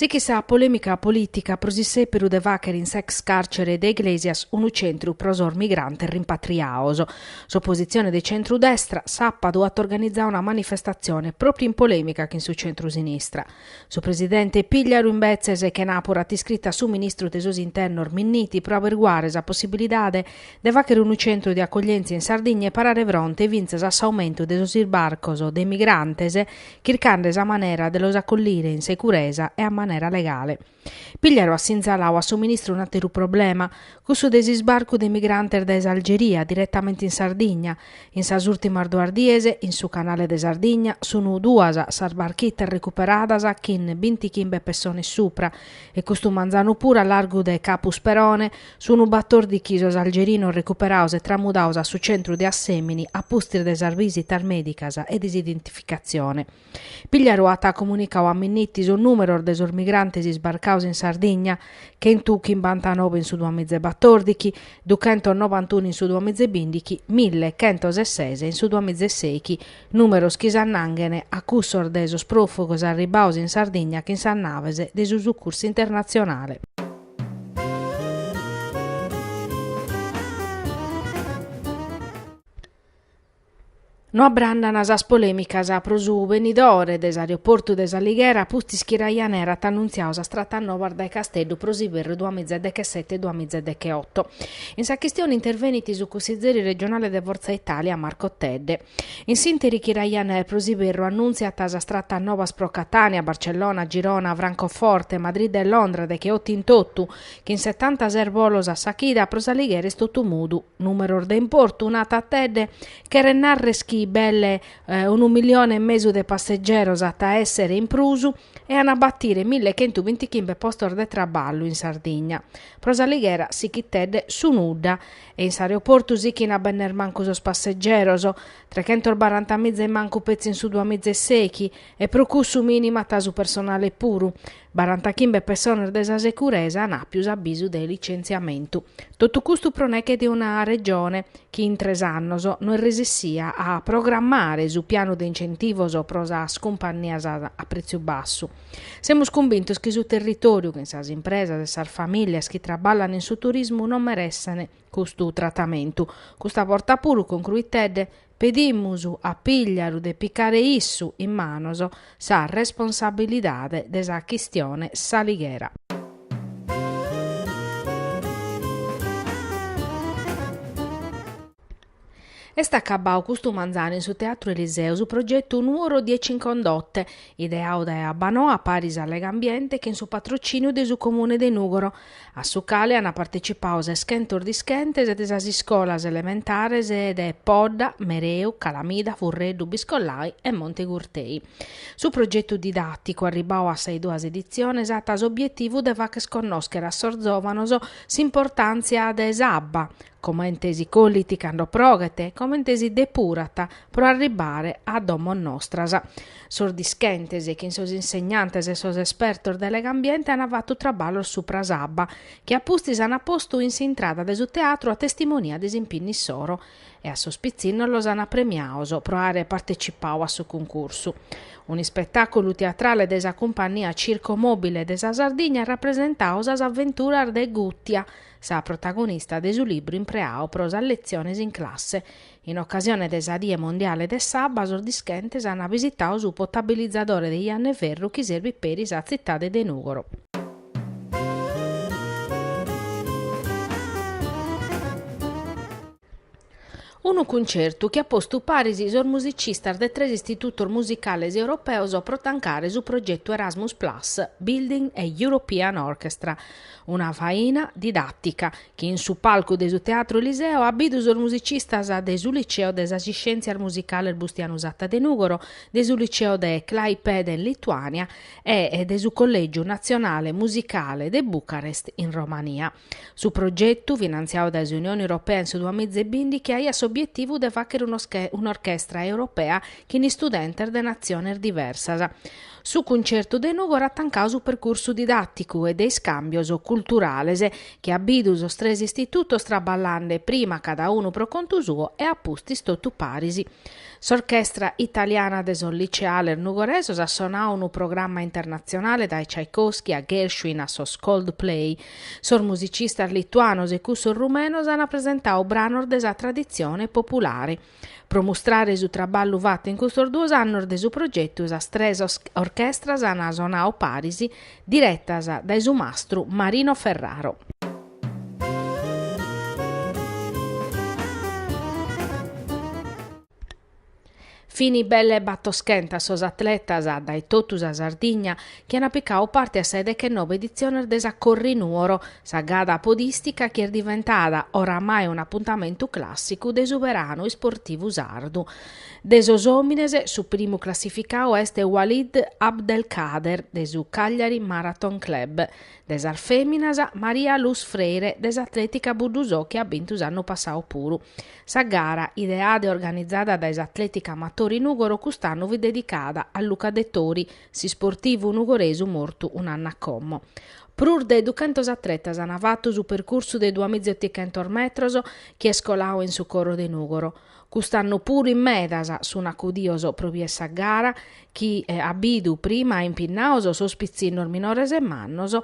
Sichit sa polèmica polìtica pro s'issèperu de fàchere in s'ex càrcere de Iglesias unu centru pro sos migrantes rimpatriaos. S'opositzione de centru-destra, sàpadu, at organizau una manifestatzione pròpiu in polèmica chin su centru-sinistra. Su presidente Pigliaru imbetzes chenàpura at iscritu a su ministru de sos internos Minniti pro aberguare sa possibilidade de fàchere unu centru de acoglièntzia in Sardigna e parare fronte fintzas a s'aumentu de sos isbarcos de migrantes chircande sa manera de los acollire in securesa e a manera legale. Pigliaru at sinzalau a su ministru un'àteru problema, cussu de s'isbarcu de migrantes dae s'Algeria diretamente in Sardigna. In sas ùrtimas duas dies, in su canale de Sardigna, sunt duas sas barchitas recuperadas chin bintichimbe pessones supra e custu manzanu puru a largu de Capu Sperone sunt batòrdichi sos algerinos recuperaos e tramudaos a su centru de Assèmini a pustis de sas bisitas mèdicas e de s'identificatzione. Pigliaru at comunicau a Minniti sos nùmeros de sos migrantes isbarcados in Sardigna, chentu chimbantanove in su duamiza e batòrdichi, duchentos novantunu in su duamiza e bìndichi, mille chentos e ses in su duamiza e sechi, nùmeros chi s'annanghen a cussos de sos pròfugos arribbaos in Sardigna chin sas naves de su Sucursu Internatzionale. No abrandan sas polèmicas pro su benidore de s'aeroportu de S'Alighera pustis chi Ryanair at annuntziau sas tratas novas dae Casteddu pro s'iberru duamiza e dechesete duamiza e decheoto. In sa chistione intervenit su cussizeri regionale de Forza Italia, Marco Tedde. In s'ìnteri chi Ryanair pro s'iberru annuntziat sas tratas novas pro Catània, Barcellona, Girona, Francoforte, Madrid e Londra decheoto in totu, Chin setanta ses bolos a sa chida pro s'Alighera est totu mudu. Numeros de importu, nat Tedde, cheret narrer chi belle unu milione e mesu de passegeros at a èssere in prus e an a batire mille chentu bintichimbe postos de traballu in Sardigna. Pro s'Alighera sichit Tedde su nudda. E in s'aeroportu sichin a benner mancu sos passegeros. Trechentos barantamiza in mancu petzi in su duamiza e sechi. E pro cussu minimat su personale puru. Barantachimbe pessones de sa securesa an àpiu s'abisu de licentziamentu. Totu custu pro neche de una Regione chi in tres annos no est resessìa a programmare su pianu de incentivos pro sas cumpannias a pretziu bassu. Semus cumbintos chi su territòriu chin sas impresas e sas famìlias chi traballan in su turismu non meressent custu tratamentu. Custa borta puru, concruit Tedde, Pedimus a Pigliaru de picare issu in manos sa responsabilidade de sa chistione S'Alighera. Est acabau custu manzanu in su Teatru Eliseo su progetu Nuoro dieci in Condotte, ideau dae Abbanoa paris a Legambiente chin su patrociniu de su Comune de Nùgoro, a su cale ant partecipau seschentos dischentes de sas iscolas elementares de Podda, Mereu, Calamida, Furreddu, Biscollai e Monte Gurtei. Su progetu didàticu, arribau a sas duas editziones, at s'obietivu de fàcher connoschere a sos zòvanos s'importàntzia de s'abba, comente si collit cando proghet, comente si depurat pro arribare a domos nostras. Sos dischentes chin sos insegnantes e sos espertos de Legambiente ant fatu traballos supra s'abba, chi a pustis ant postu in s'intrada de su teatru a testimonia de s'impinnu issoro, e a sos pitzinnos los ant premiaos pro àere partecipau a su cuncursu. Un'ispetàculu teatrale de sa cumpannia Circo Mobile de sa Sardigna at rapresentau sas aventuras de Gùtia, sa protagonista de su libru impreau pro sas letziones in classe. In ocasione de sa Die Mondiale de s'Abba sos dischentes ant visitau su potabilizadore de Janna 'e Ferru chi serbit peri sa tzitade de Nùgoro. Unu cuncertu chi at postu paris sos musicistas de tres istitutos musicales europeos pro tancare su progetu Erasmus Plus, Building a European Orchestra, una faina didàtica chi in su palcu de su Teatro Eliseo at bidu sos musicistas de su Liceo de sas Iscièntzias Musicales Bustianu Satta de Nùgoro, de su Liceo de Klaipeda in Lituània, e de su Collègiu Natzionale Musicale de Bucarest, in Romania. Su progetu, finantziau dae s'Unione Europea in su duamiza e bìndichi, aiat s'obietivu de fàchere un'orchestra europea chin istudentes de natziones diversas. Su cuncertu de Nùgoro at tancau su percursu didàticu e de iscàmbios culturales, chi at bidu sos tres istitutos traballande prima cada unu pro contu suo e a pustis totu paris. S'Orchestra Italiana de sos Liceales Nugoresos at sonau unu programma internatzionale dae Tchaikovsky a Gershwin a sos Coldplay, Sos musicistas lituanos e cussos rumenos an presentau branos de sa traditzione populare. Pro mustrare su traballu fatu in custos duos annos de su progetu sas tres orchestras an sonau paris, diretas dae su mastru Marino Ferraro. Fin belle battoschentas sos atletas dae totu sa Sardigna chi an picadu parte a sa 'e dechenoe editziones de sa Corri Nuoro, sa gara podìstica chi est diventada oramai un'apuntamentu clàssicu de su beranu isportivu sardu. De sos òmines su primu classificadu est Walid Abdelkader de su Cagliari Marathon Club, De sas fèminas, Maria Luz Freire de s'Atlètica Buddusò chi at bintu s'annu passadu puru. Sa gara, ideada e organizada dae s'Atlètica Amatori Nùgoro cust'annu fit dedicada a Luca Dettori, s'isportivu nugoresu mortu un'annu a como. Prus de duchentos atletas ant fatu su percursu de duamizaeotichentos metros chi est coladu in su coro de Nùgoro. Cust'annu puru in medas sun acudios pro bier sa gara chi at bidu prima impinnados sos pitzinnos minores e mannos,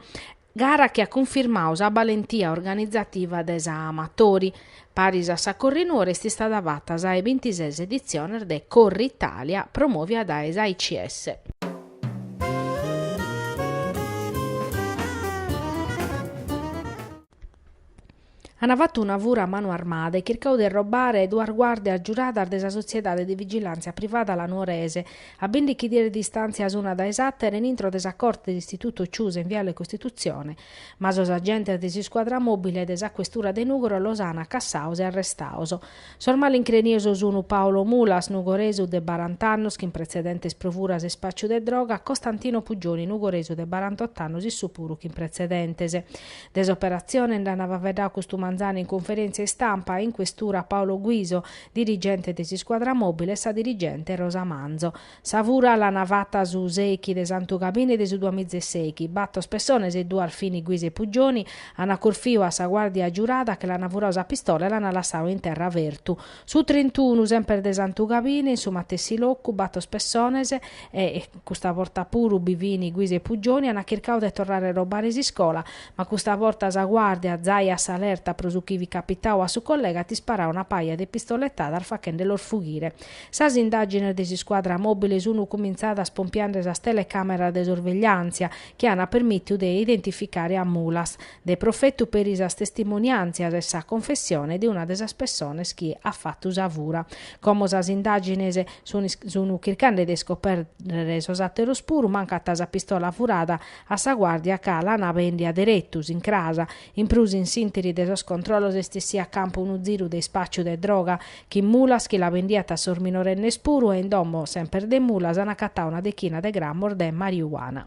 gara chi at cunfirmadu sa balentia organizativa de sa Amatori. Paris a sa Corri Nuoro est istada fata sa 'e bintises editziones de Corritalia promòvia dae s'AICS. Ana fatu una fura a manu armada e chircau de robbare duas guardias giuradas de sa sotziedade de vigilàntzia privada La Nuorese, a bìndichi dies de distàntzia una dae s'àtera in intro de sa corte de istitutu Ciusa in viale Costitutzione, ma sos agentes de s'iscuadra mòbile de sa questura de Nùgoro los ana cassados e arrestados. Sos malincrenios sun Paolo Mulas, nugoresu de barant'annos chin pretzedentes pro furas e spàciu de droga, Costantino Puggioni, nugoresu de barant'ot'annos issu puru chin pretzedentes. De s'operatzione nd'an faveddadu custu manzanu in conferèntzia istampa in questura Paolo Guiso, dirigente de s'iscuadra mòbile e sa dirigente Rosa Manzo. Sa fura l'ana fata su sèichi de Santu Gabini de su duamizesèichi. Bator pessones e duas fini Guiso e Puggioni, ana curfiu a sa guardia giurada chi l'ana furau sa pistola e l'ana lassau in terra fertu. Su trintunu semper de Santu Gabini in su matessi locu bator pessones e custa borta puru bi fini Guiso e Puggioni ana chircau de torrare a robbare s'iscola ma custa borta sa guardia zai a s'alerta pro su chi fit capitau a su collega at isparau una paja de pistolettadas fachende los fughire Sas indàgines de s'iscuadra mòbile sunt cumintzadas pompiende sas telecàmeras de sorvegliàntzia chi ant permìtiu de identificare a Mulas, de profetu peri sas testimoniàntzias e sa confessione de una de sas pessones chi at fatu sa fura. Como sas indàgines sunt chircende de iscopèrrere sos àteros puru, mancat sa pistola furada a sa guàrdia ca l'an bèndia deretu, s'incrasa, In prus in s'interi de sos controllos est essiu a campu unu ziru de ispàciu de droga, chin Mulas chi la bendiat a sos minorennes puru e in domo, semper de Mulas, an acatadu una dechina de grammos de mariuana.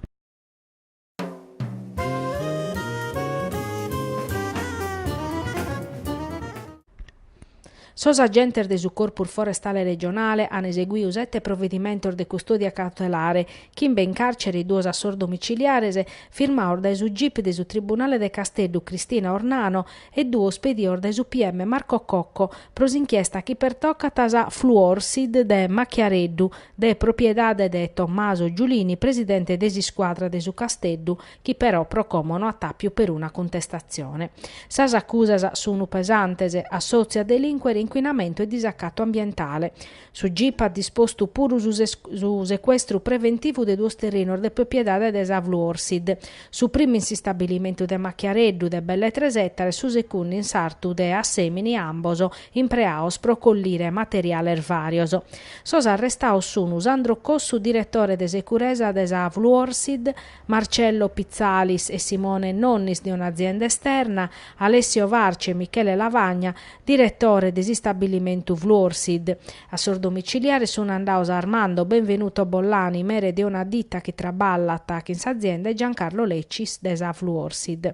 Sos agentes de su Corpus Forestale Regionale an eseguiu sete provedimentos de custòdia cautelare, chimbe in càrcere e duos a sos domitziliares, firmados dae su gip de su Tribunale de Casteddu Cristina Ornano e pedidos dae su pm Marco Cocco pro s'inchiesta chi pertocat sa Fluorsid de Machiareddu, de propiedade de Tommaso Giulini, presidente de s'iscuadra de su Casteddu, chi però pro como no at àpiu peruna cuntestatzione. Sas acusas sunu pesantes, assòtziu a delìnquere incuinamentu e disacatu ambientale. Su gip at dispostu puru su secuestru preventivu de duos terrinos de propiedade de sa Fluorsid, su primu in s'istabilimentu de Machiareddu de belle tres ètares, su segundu in s'artu de Assemini, ambos impreados pro collire materiales vàrios. Sos arrestados sunu Sandro Cossu, diretore de securesa de sa Fluorsid, Marcello Pitzalis e Simone Nonnis de un'azienda esterna, Alessio Farci e Michele Lavagna, diretore de s'istabbillimentu Fluorsid. A sos domiciliares sun andados Armando Benvenuto Bollani, mere de una ditta chi traballat chin s'azienda e Giancarlo Leccis de sa Fluorsid.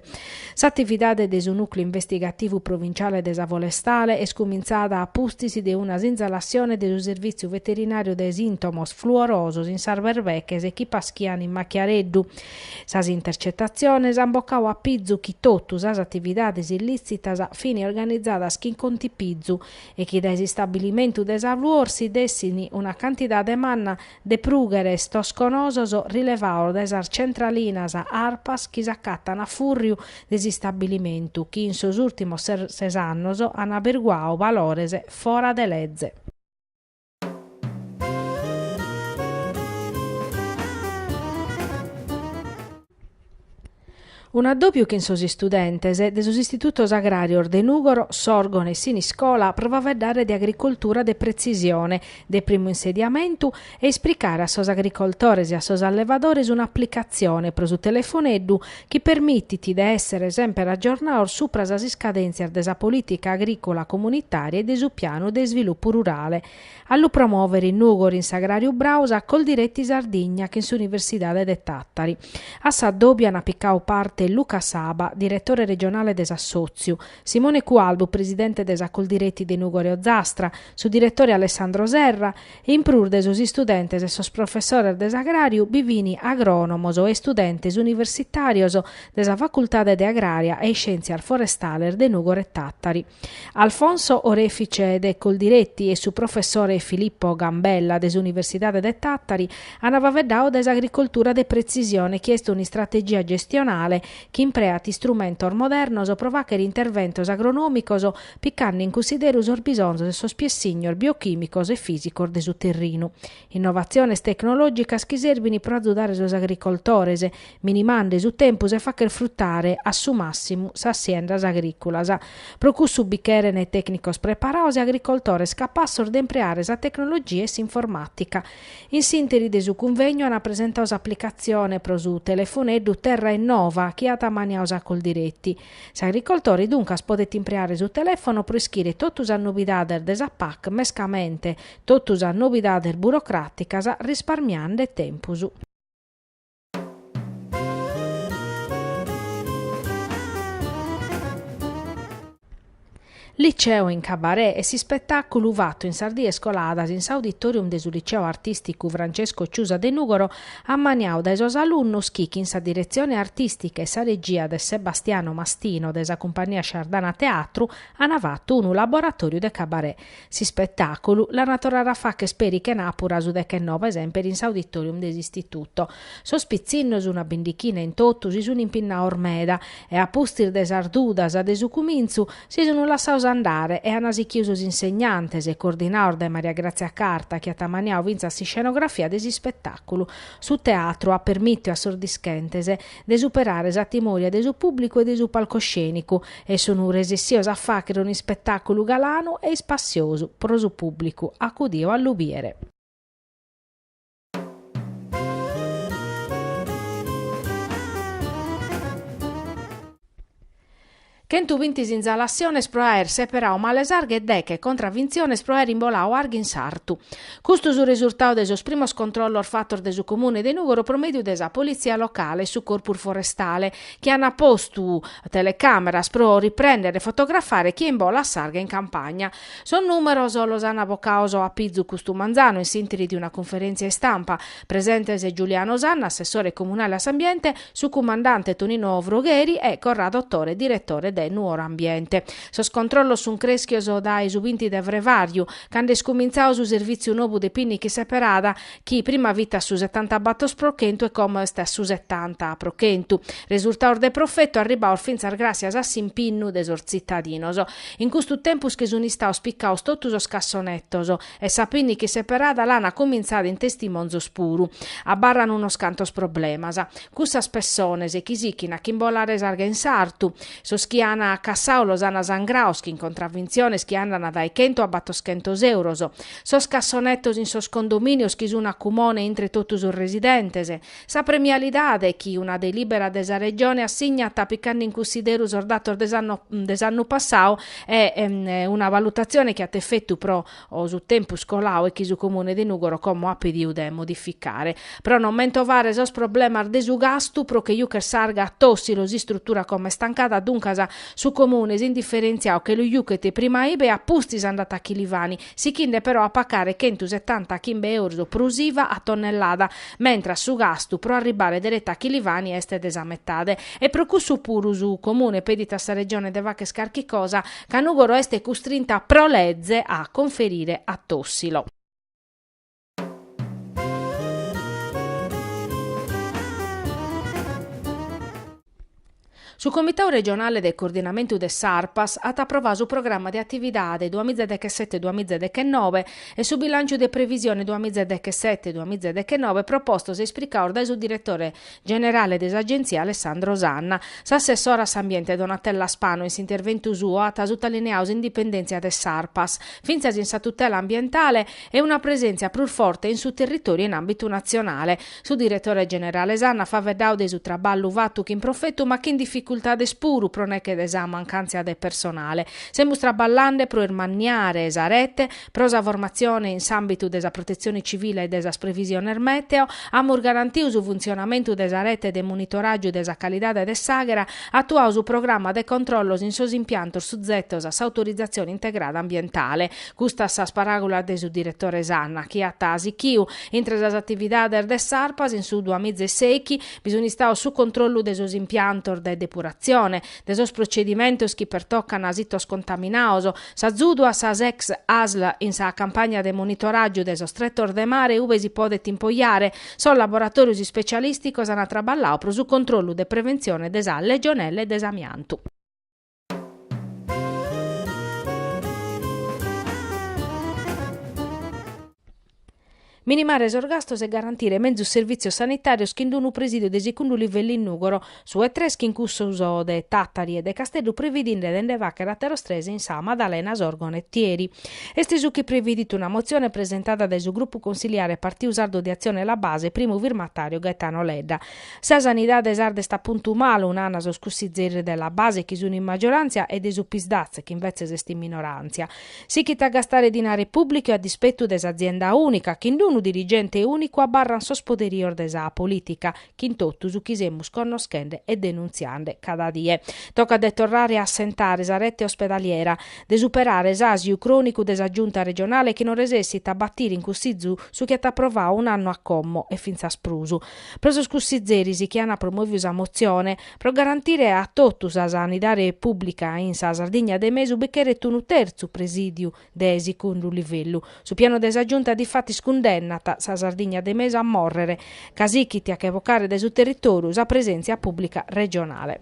S'atividade de su Nùcleu Investigativu Provinciale de sa Forestale est cumintzada a pustis de una sinzalassione de su Servìtziu Veterinàriu de sìntomos fluorosos in sas berbeches chi paschian in Machiareddu. Sas intercetatziones an bocadu a pizu chi totu sas atividades illìtzitas fin organizadas chin contipizu e chi dae s'istabilimentu de sa Fluorsid essin una cantidade manna de prugheres toscosos rilevados dae sas centralinas Arpas chi s'acatan a fùrriu de s'istabilimentu chi in sos ùrtimos ses annos an aberguadu valores fora de leze. Un'addòbiu chin sos istudentes de sos istitutos agràrios de Nùgoro, Sòrgone e Siniscola pro faeddare de agricoltura de pretzisione, de primu insediamentu, e esplicare a sos agricoltores e a sos allevadores un'aplicatzione pro su telefoneddu chi permitit de èssere semper agiornados supra sas iscadèntzias de sa polìtica agrìcola comunitària e de su pianu de isvilupu rurale, a lu promòvere in Nùgoro in s'Agràriu Brau sa Coldiretti Sardigna chin s'Universidade de Tàtari, a s'addòbiu an picadu parte Luca Saba, diretore regionale de s'assòtziu, Simone Cualbu, presidente de sa Coldiretti de Nùgoro Ozastra, su diretore Alessandro Serra, In prus de sos istudentes e sos professores de s'agràriu bi fin agrònomos e istudentes universitàrios de sa Facultade de Agrària e Iscièntzias Forestales de Nùgoro e Tàtari. Alfonso Orefice de Coldiretti e su professore Filippo Gambella de s'Universidade de Tàtari an faeddadu de s'agricoltura de pretzisione chi est un'istrategia gestionale chi impreat istrumentos modernos pro fàghere interventos agronòmicos picande in cunsideru sos bisonzos e sos piessignos biochìmicos e fìsicos de su terrinu. Innovatziones tecnològicas chi serbint pro azudare sos agricoltores, minimande su tempus e fàchere frutare a su màssimu sas siendas agrìculas. Pro cussu bi cheren tècnicos preparados e agricoltores capassos de impreare sa tecnologia e s'informàtica. In s'ìnteri de su cunvegnu ant presentadu s'aplicatzione pro su telefoneddu Terra Innova chi at ammaniadu sa Coldiretti, S'agricoltore duncas podet impreare su telefono pro ischire totu sas nobidades de sa PAC mescamente totu sas nobidades burocràticas risparmiande tempus. Liceo in Cabaret est s'ispetàculu fatu in sas dies coladas in s'Auditorium de su Liceo Artìsticu Francesco Ciusa de Nùgoro ammaniadu dae sos alunnos chi chin sa diretzione artìstica e sa regia de Sebastiano Mastino de sa Cumpagnia Sciardana Teatru an fatu unu laboratòriu de Cabaret S'ispetàculu l'ant a torrare a fàcher peri chenàpura su deghenobe semper in s'auditorium de s'Istituto. Sos pitzinnos, una bindichina in totu, si sunt impinnados meda e, a pustis de sas dudas de su cumintzu, si sunt lassados andare e ant sichidu sos insegnantes, coordinados dae Maria Grazia Carta, chi at ammaniadu fintzas s'iscenografia de s'ispetàculu. Su teatru at permìtiu a sos dischentes de superare sa timoria de su pùblicu e de su palcoscènicu e sun resessios a fàghere un'ispetàculu galanu e ispassiosu pro su pùblicu acudio a lu bìdere. Chentu binti sinzalassiones pro aer seperadu male s'arga e deche contravintziones pro aer imboladu arga in sartu. Custu su resurtadu de sos primos controllos fatos de su Comune de Nùgoro pro mèdiu de sa Politzia locale e su Corpus Forestale, chi ant postu telecàmeras pro riprèndere e fotografare chie imbolat s'arga in campagna. Sos nùmeros los ant bocados a pizu custu manzanu in s'ìnteri de una cunferèntzia istampa. Presentes Giuliano Sanna, assessore comunale a s'ambiente, Su cumandante Tonino Frogheri e Corrado Dottore diretore de Nuoro Ambiente. Sos controllos sun creschios dae su binti de frevàriu, cando est cumintzadu su servìtziu nobu de pinnica seperada, chi prima fit a su setantabatos pro chentu e como est a su setanta pro chentu. Resurtados de profetu arribbados fintzas gràssias a s'impinnu de sos tzitadinos. In custu tempus chi sun istados picados totu sos cassonetos, E sa pinnica seperada l'an cumintzada in Testimonzos puru. Abarran unos cantos problemas. Cussas pessones chi sichin a ch'imbolare s'arga in sartu. Sos chi an cassadu los an sangrados chin contravintziones chi andan dae chentu a battoschentos euros. Sos cassonetos in sos condominios chi sun a cumone intre totu sos residentes. Sa premialidade chi una delibera de sa Regione assignat picande in cussideru sos datos de s'anno, de s'annu passau e una valutazione chi at efetu pro su tempus colau e chi su Comune de Nugoro como at pediu de modificare. Pro non mentovare sos problemas de su gastu pro che jucher s'arga a Tossilo s'istrutura como est tancada duncas su Comune s'indifferentziau che lu juchet prima ibe a pustis andat a Chilivani sichinde però a pacare chentu setanta chimbe eurus prus iva a tonnellada, mentras su gastu pro arribbare dereta a Chilivani est de sa metade. E pro cussu puru su Comune pedit a sa Regione de facher carchi cosa, ca Nugoro est custrinta pro leze a conferire a Tossilo. Su Comitau Regionale de Coordinamentu de s'Arpas at aprovau su Programma de Atividade duas mìgia dechesete-duas mìgia dechenobe e su Bilànciu de Previsione duas mìgia dechesete-duas mìgia dechenobe propostos e isplicados dae su Diretore generale de s'Agenzia Alessandro Sanna. S'assessora a s'Ambiente Donatella Spano in s'interventu suo at sutalineadu s'indipendèntzia de s'Arpas, fintzas in sa tutela ambientale, e una presèntzia prus forte in su territòriu e in àmbitu natzionale. Su diretore generale Sanna at faveddau de su traballu fatu chin profetu ma chin dificultades puru pro nech'e de sa mancàntzia de personale. Semus traballande pro irmanniare sa rete, Pro sa formatzione in s'àmbitu de sa protetzione civile e de sas previsiones mèteo, amus garantiu su funtzionamentu de sa rete de monitoràgiu de sa calidade de s'àghera, atuau su programa de controllos in sos impiantos suzetos a s'autorizatzione integrada ambientale. Custas sas paràgulas de su diretore Sanna, chi at sichiu, intre sas atividades de s'Arpas in su duamiza e sèichi, bi sun istaos su controllu de sos impiantos de depuratzione, de sos procedimentos chi pertocan sitos contaminaos, s'azudu a sas ex asl in sa campagna de monitoràgiu de sos tretos de mare ube si podet impoiare, sos laboratòrios ispecialìsticos an traballau pro su controllu de preventzione de sa legionella e de s'amiantu. Minimare sos gastos e garantire mezus servìtzios sanitàrios chin d'unu presidiu de sicundu livellu in Nùgoro, su 'e tres chin cussos de Tàtari e de Casteddu previdinde de nde fàghere àteros tres in Sa Madalena, Sòrgono e Otieri. Est su chi previdit una motzione presentada dae su grupu consiliare Partiu Sardu de Atzione e La Base, primu firmatàriu Gaetano Ledda. Sa sanidade sarda est a puntu malu, nana sos cussizeris de La Base chi sun in maggioràntzia e de su Psdaz chi invetzes est in minoràntzia. Sighit a gastare dinare pùblicu a dispetu de s'azienda ùnica, chin d'unu dirigente ùnicu abarrant sos poderios de sa polìtica, chin totu su chi semus connoschende e denuntziande cada die. Tocat de torrare a assentare sa rete ospedaliera, de superare s'àsiu crònicu de sa Giunta regionale chi non resessit a batire in Cussizu su chi at aprovadu un'annu a como e fintzas prus. Pro sos cussizeris chi ant promòviu sa motzione, Pro garantire a totu sa sanidade pùblica in sa Sardigna de mesu bi cheret unu tertzu presìdiu de sicundu livellu. Su pianu de sa Giunta difatis cundennat sa Sardigna de mesu a mòrrere, ca sighit a che bocare dae su territòriu sa presèntzia pùblica regionale.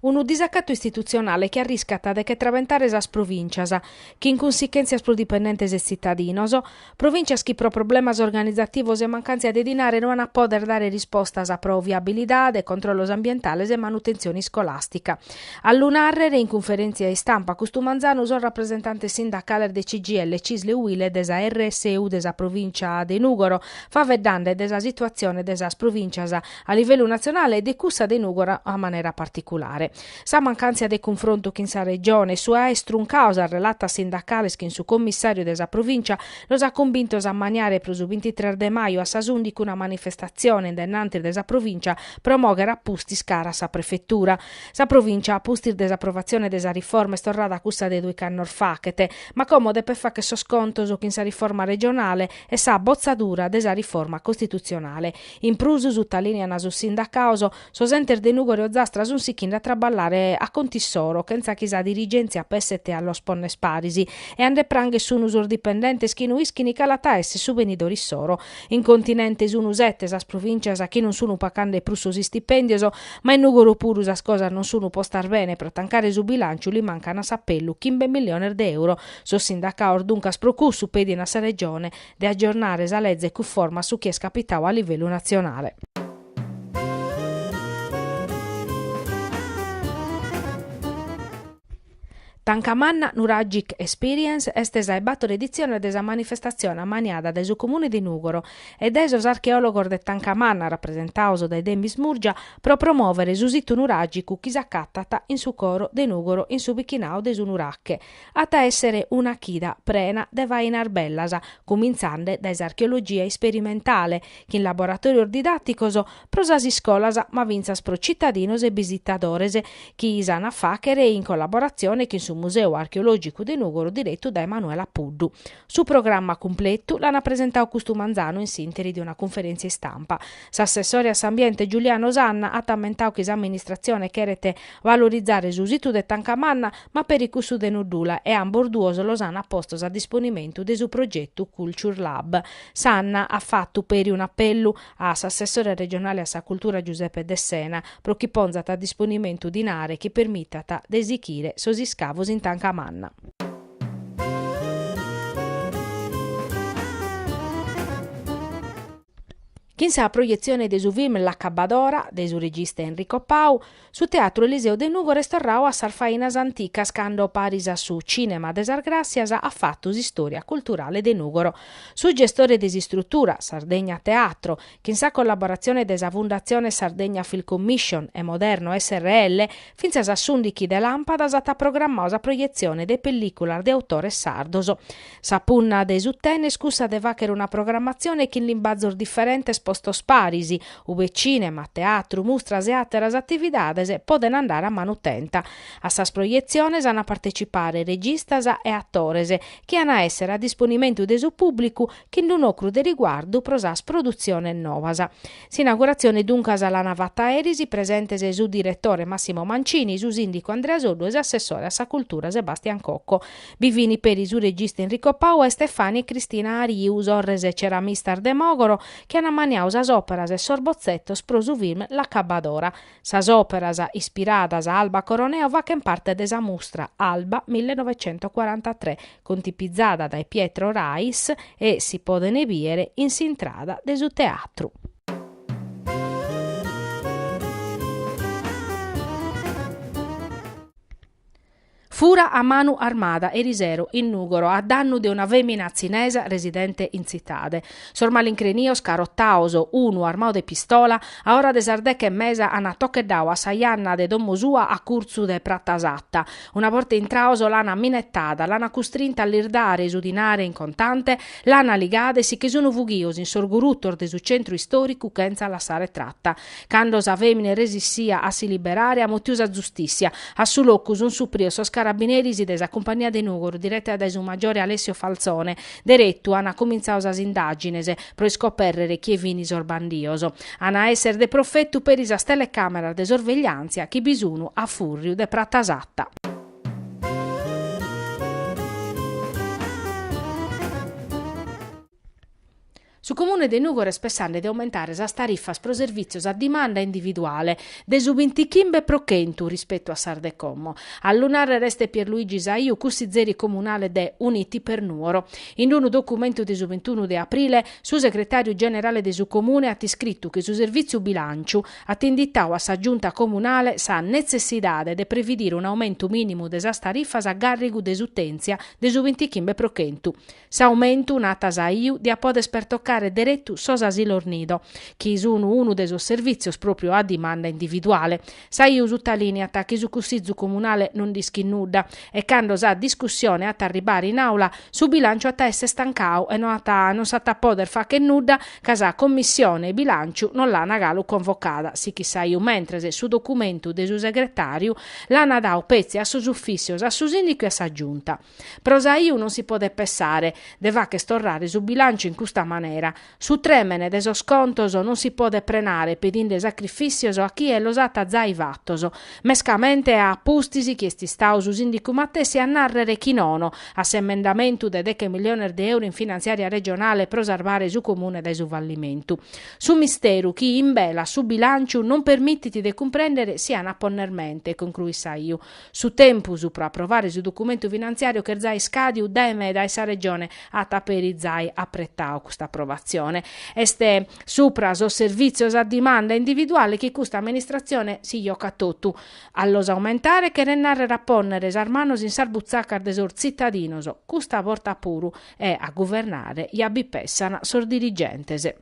Unu disacatu istitutzionale chi arriscat de che trabentare sas provìncias, chin cunsichèntzias pro dipendentes e tzitadinos, provìncias chi pro problemas organizativos e mancàntzia de dinare no an a pòder dare rispostas pro viabilidade, controllos ambientales e manutentzione iscolàstica. A lu nàrrere in cunferèntzia istampa custu manzanu sos rapresentantes sindacales de CGIL, Cisl e Uil e de sa RSU de sa provìncia de Nùgoro, faeddende de sa situatzione de sas provìncias a livellu natzionale e de cussa de Nùgoro a manera particulare. Sa mancàntzia de cunfrontu chin sa Regione e su aer struncadu sas relatas sindacales chin su commissàriu de sa Provìncia los at cumbintos a ammaniare pro su bintitres de maju a sas ùndichi una manifestatzione in denanti de sa Provìncia pro mòghere a pustis cara a sa Prefetura. Sa Provìncia a pustis de s'aprovatzione de sa riforma est torrada a cussa de duiche annos fachet ma como depet facher sos contos chin sa riforma regionale e sa botzadura de sa riforma costitutzionale. In prus, sutalìneant sos sindacados, sos entes de Nùgoro e Ozastra sunt sichende a traballare a contu issoro, chentza chi sa dirigèntzia pesset a los ponner paris, e a nde pranghere sunt sos dipendentes chi no ischint cale at a èssere su benidore issoro. In continente sunt sete sas provìncias chi non sunt pacande prus sos istipèndios, ma in Nùgoro puru sas cosas non sunt postas bene, pro tancare su bilàntziu li mancant a s'apellu chimbe milliones de euro. Sos sindacados duncas pro cussu pedint a sa Regione, de agiornare sa leze cunforma a su chi est capitadu a livellu natzionale. Tanca manna Nuragic Experience est sa 'e bàtor editzione de sa manifestatzione ammaniada dae su Comune de Nùgoro e dae sos archeòlogos de Tanca Manna rapresentados dae Demis Murgia pro promòvere su situ nuràgicu chi s'acatat in su coro de Nùgoro in su bichinadu de su Nurache At a èssere una chida prena de fainas bellas, cumintzende dae s'archeologia isperimentale, chin laboratòrios didàticos pro sas iscolas ma fintzas pro tzitadinos e bisitadores, chi si an a fàghere in collaboratzione chin su Museu Archeològicu de Nùgoro diretu dae Manuela Puddu. Su programma cumpletu l'an a presentadu custu manzanu in s'ìnteri de una cunferèntzia istampa. S'assessore a s'Ambiente Giuliano Sanna at ammentadu chi s'amministratzione cheret valorizare su situ de Tancamanna, ma peri cussu de Nuddula e ambos duos los an a postos a disponimentu de su progetu Culture Lab. Sanna at fatu peri un'apellu a s'assessore regionale a sa cultura Giuseppe Dessena pro chi ponzat a disponimentu dinare chi permitat de sichire sos iscavos in Tancamanna. Chin sa proietzione de su film L'accabadora de su regista Enrico Pau, Su Teatru Eliseu de Nùgoro est torrau a sas fainas anticas cando paris a su Cinema de sas Gràssias at fatu s'istòria culturale de Nùgoro. Su gestore de s'istrutura, Sardegna Teatro, chin sa collaboratzione de sa Fundatzione Sardegna Film Commission e Moderno SRL, fintzas a s'ùndichi de làmpadas at programmau sa proietzione de pellìculas de autores sardos. Sa punna de su TEN est cussa de fàghere una programmatzione chin limbazos diferentes postos paris, ue tzìnema, teatru, mustras e àteras atividades podent andare a manu tenta. A sas projetziones ant a partecipare registas e atores, chi ant a èssere a disponimentu de su pùblicu chin d'un'ocru de riguardu pro sas produtziones novas. S'inauguratzione duncas l'an fata eris presentes su diretore Massimo Mancini, su sìndicu Andrea Soddu e s'assessore a sa cultura Sebastian Cocco. Bi fin peri su regista Enrico Pau e Stefani e Cristina Ariu, sorres e ceramistas de Mògoro, chi ant maniadu sas òperas e sos botzetos pro su film L'accabadora. Sas òperas, ispiradas a Alba Coroneo fachent parte de sa mustra Alba millenovecentocuarantatré, contipizada dae Pietro Rais e si podent bìdere in s'intrada de su teatru. Fura a manu armada erisero in Nùgoro a dannu de una fèmina tzinesa residente in tzitade. Sos malincrenios carottados, unu armadu de pistola, a ora de sas deche e mesa ana tocheddadu a sa janna de domo sua a curtzu de Pratasata. Una borta intrados l'ana minettada, l'ana custrinta a lis dare su dinare in contante, l'ana ligada e si che sono fughidos in sos gurutos de su centru istòricu chentza lassare tratta. Cando sa fèmina est resissia a si liberare, at mutiu sa zustìssia. A su locu sunt suprios sos carabineris de sa Cumpagnia de Nùgoro, direta dae su maggiore Alessio Falzone. Deretu ant comintzadu sas indàgines, pro iscopèrrere chie fini sos bandios. Ant a èssere de profetu peri sas telecàmeras de sorvegliàntzia chi bi sun a fùrriu de Prata Satta. Su Comune de Nùgoro est pessande de aumentare sas tarifas pro servìtzios a dimanda individuale de su bintichimbe pro chentu rispetu a sas de como. A lu nàrrere est Pierluigi Saiu, cussizeri comunale de Uniti per Nuoro. In unu documentu de su bintunu de aprile, su segretàriu generale de su Comune at iscritu chi su Servìtziu Bilànciu at inditau a sa Giunta comunale sa netzessidade de previdire un'aumentu mìnimu de sas tarifas a gàrrigu de s'utèntzia de su bintichimbe pro chentu S'aumentu, nat Saiu, diat poder pertocare deretu sos asilos nido, chi sun unu de sos servìtzios pròpiu a dimanda individuale. Saiu sutalìniat chi su Cussizu Comunale non nd'ischit nudda e cando sa discussione at a arribare in Àula su bilànciu at a èsser tancau e non s'at a pòdere fàcher nudda ca sa Commissione 'e bilànciu non l'ana galu convocada, sichit Saiu, mentres su documentu de su Segretàriu l'ana dau petzi a sos ufìssios, a su Sìndicu e a sa Giunta. Pro Saiu non si podet pessare, de facher torrare su bilanciu in custa manera. Su trèmene de sos contos non si podet prenare pedinde sacrifìtzios a chie los at zai fatos, mescamente a pustis chi est istau su sìndicu matessi a nàrrere chi nono a s'emendamentu de deche miliones de euro in finantziària regionale pro sarvare su Comune dae su fallimentu. Su misteru chi imbelat su bilanciu non permitit de cumprèndere si an a ponner mente, concruit Saiu, Su tempus pro aprovare su documentu finantziàriu ch'est zai iscadiu dae meda e sa Regione at peri zai apretau custa aprovatzione. Est supra sos servìtzios a dimanda individuale chi custa amministratzione si jocat totu. A los aumentare cheret nàrrere a pònnere sas manos in sas butzacas de sos tzitadinos, custa borta puru, e a guvernare ja bi pessan sos dirigentes.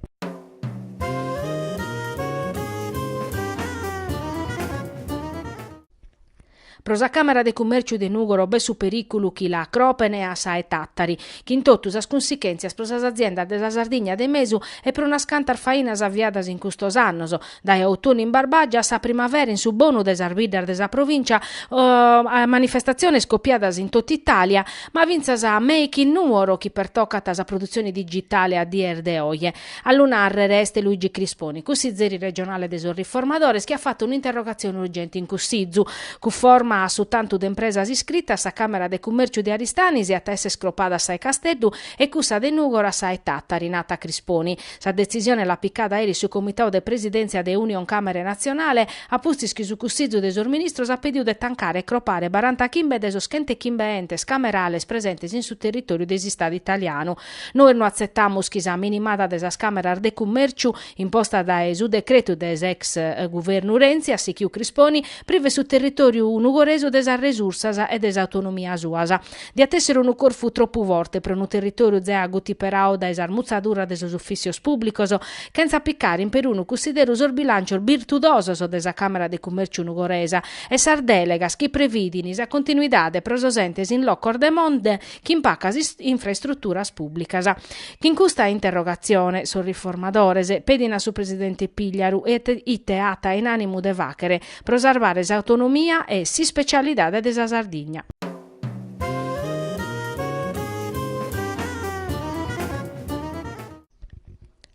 Pro sa Càmara de Cummèrciu de Nùgoro b'est su perìculu chi l'acropen a sa 'e Tàtari, chin totu sas cunsichèntzias pro sas aziendas de sa Sardigna de mesu e pro unas cantas fainas aviadas in custos annos, dae Autunnu in Barbàgia a sa primavera in su bonu de sas biddas de sa provìncia, a manifestatziones copiadas in totu Itàlia, ma fintzas a Make in Nuoro chi pertocat sa produtzione digitale a dies de oje. A lu nàrrere est Luigi Crisponi, cussizeri regionale de sos Riformadores, chi at fatu un'interrogatzione urgente in Cussizu. Cunforma a su tantu de impresas iscritas, sa Càmera de Cummèrciu de Aristanis iat a èssere scropada sa 'e Casteddu e cussa de Nùgoro sa 'e Tàtari, nat Crisponi. Sa detzisione l'at picada aeri su Comitau de Presidèntzia de Unioncamere Natzionale, a pustis chi su Cussizu de sos Ministros at pediu de tancare e cropare barantachimbe de sos chentechimbe entes camerales presentes in su territòriu de s'Istadu italianu, Nois no atzetamus chi sa minimada de sas càmeras de cummèrciu, imposta dae su decretu de s'ex guvernu Renzi, at sichiu Crisponi, privet su territòriu nugoresu de sas resursas e de s'autonomia suas. Diat èssere unu corfu tropu forte pro unu territòriu zea agutiperadu dae sas mutzaduras de sos ufìssios pùblicos, chentza picare in perunu cussideru sos bilàncios birtudosos de sa Càmera de Cummèrciu nugoresa e sas dèlegas chi prevìdin sa continuidade pro sos entes in locos de monte chin pacas infraestruturas pùblicas. Chin custa interrogatzione sos riformadores pedin a su presidente Pigliaru ite at in ànimu de fàghere pro sarvare s'autonomia e s'ispecialidade de sa Sardigna.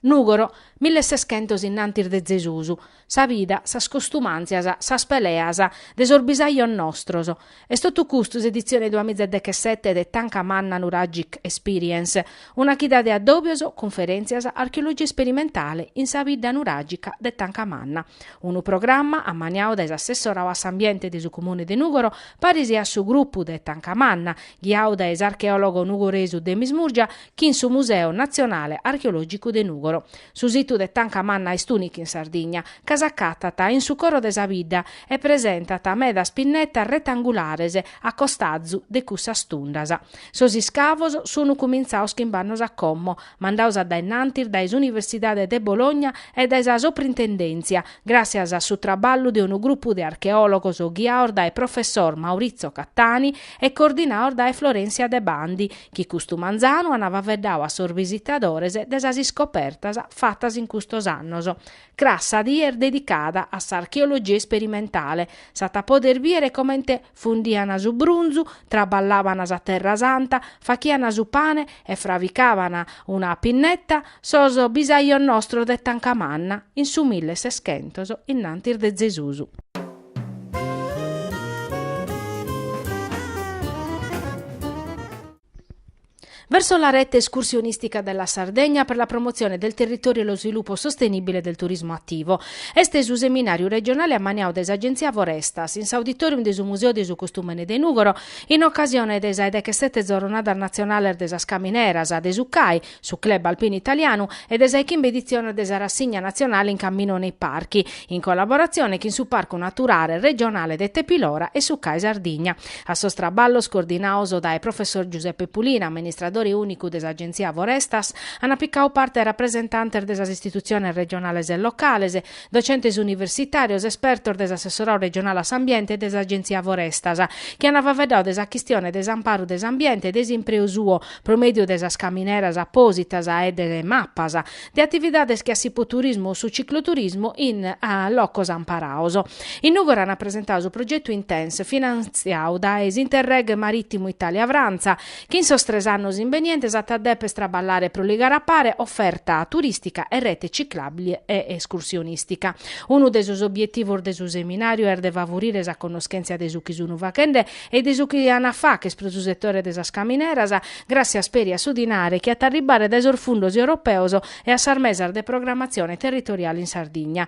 Nùgoro, milleseschentos innantis de Zesus, sa vida, sas costumàntzias, sas peleas de sos bisajos nostros. Est totu custu s'editzione duamizadechesete de Tanca Manna Nuragic Experience, una chida de addòbios, cunferèntzias, archeologia isperimentale in sa bidda nuràgica de Tanca Manna. Unu programma ammaniadu dae s'assessoradu a s'ambiente de su Comune de Nùgoro, paris a su grupu de Tanca Manna, ghiadu dae s'archeòlogo nugoresu Demis Murgia, chin su Museu Natzionale Archeològicu de Nùgoro. Su situ de Tanca Manna est ùnicu in Sardigna, ca s'acatat in su coro de sa bidda e presentat medas pinnetas retangulares a costazu de cussas tundas. Sos iscavos sunu cumintzados chimbe annos a como, mandados a dae innantis dae s'Universidade de Bologna e dae sa Soprintendèntzia, gràssias a su traballu de unu grupu de archeòlogos ghiados dae professor Maurizio Cattani e coordinados dae Florencia Debandi, chi custu manzanu an faveddadu a sos bisitadores de sas iscopertas fatas in custos annos. Cras sa die est dedicada a s'archeologia isperimentale, s'at a poder bìdere comente fundian su brunzu, traballaban sa terra santa, faghian su pane e fravicaban una pinneta sos bisajos nostros de Tancamanna in su milleseschentos, innantis de Zesus. Verso la rete escursionistica della Sardegna per la promozione del territorio e lo sviluppo sostenibile del turismo attivo. Est su seminàriu regionale ammaniadu dae s'Agenzia Forestas, in s'auditorium de su Museu de su Costùmene de Nùgoro, in ocasione de sas dechesete Zorronadas Natzionales de sas Camineras, de su CAI, Su club alpinu italianu e de sa 'e chimbe edizione de sa rassigna nazionale in cammino nei parchi, in collaborazione chin su Parcu Naturale Regionale de Tepilora e su CAI Sardigna. A sos traballos coordinados dae Professor Giuseppe Pulina, amministradore unicu de s'Agenzia Forestas, an picau parte rapresentantes de sas istituziones regionales e locales, docentes universitàrios, espertos de s'Assessorau regionale a s'Ambiente e de s'Agenzia Forestas, chi ant faveddau de sa chistione de s'amparu de s'ambiente e de s'impreu suo, pro mèdiu de sas camineras apòsitas e de mapas, de atividades che a s'ippoturismu o su cicloturismu in locos amparaos. In Nùgoro ant presentau su progetu Intense, finantziau dae s'Interreg marìtimu Itàlia-Frantza, chi in sos tres annos imbenientes at a dèpere traballare pro ligare a pare oferta turìstica e rete ciclàbile e escursionìstica. Unu de sos obietivos de su seminàriu est de favurire sa connoschèntzia de su chi sun fachende e de su chi an a facher pro su setore de sas camineras, gràssias peri a su dinare chi at a arribare dae sos fundos europeos e a sas mesas de programmatzione territoriale in Sardigna.